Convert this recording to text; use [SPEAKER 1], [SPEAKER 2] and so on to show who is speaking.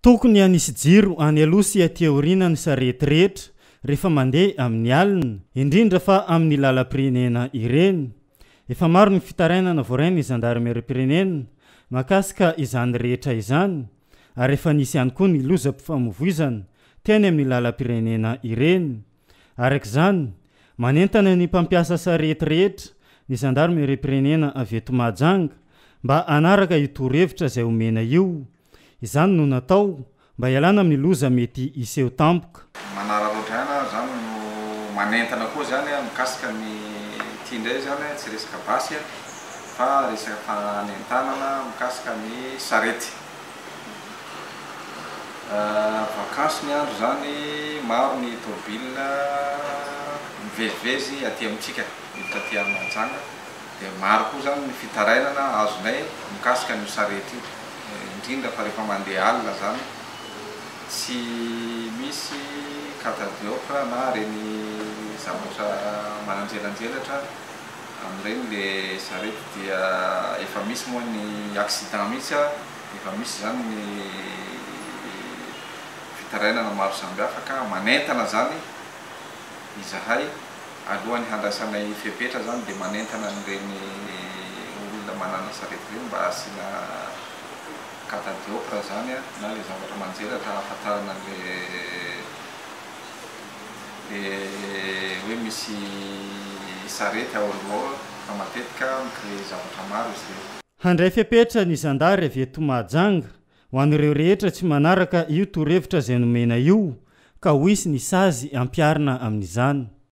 [SPEAKER 1] Tokony hanisy jiro any aloha sy aty aoriana ny sarety rehetra rehefa mandeha amin'ny alina, indrindra fa amin'ny lalam-pirenena ireny. Efa maro ny fitarainana voarain'ny zandarimeriam-pirenena mahakasika izany rehetra izany ary efa nisy ihany koa ny lozam-pifamoivoizana teny amin'ny lalam-pirenena ireny. Araka izany, manentana ny mpampiasa sarety rehetra ny zandarimeriam-pirenena avy eto Mahajanga mba hanaraka io torohevitra izay omena io. Izany no natao mba hialana amin'ny loza mety hiseho tampoka. Manararaotra ihany ary
[SPEAKER 2] izany no manentana koa izany a, mikasika ny ity indray izany a, tsy resaka basy a, fa resaka fanentanana mikasika ny sarety. Vakansy ny andro izany, maro ny tomobilina mivezivezy aty amintsika, miditra aty Mahajanga. dia maro koa izany ny fitarainana azonay mikasika an'io sarety io, indrindra fa rehefa mandeha alina izany, tsy misy catadiopre na ireny zavatra mananjelanjelatra amin'ireny ilay sarety dia efa misy moa ny accident mihitsy ary efa misy izany ny fitarainana maro samihafa ka manentana izany izahay Alohan'ny handraisanay fepetra zany dia manentana an'ireny olona manana sarety ireny mba asiana cata diopre zany na ilay zavatra manjelatra ahafantarana an'ilay le hoe misy sarety ao aloha fa matetika mi-creer zavatra maro izy ireny. Handray fepetra
[SPEAKER 1] ny zandary avy eto Mahajanga ho an'ireo rehetra tsy manaraka io torohevitra izay nomena io ka ho hisy ny sazy ampiharina amin'izany.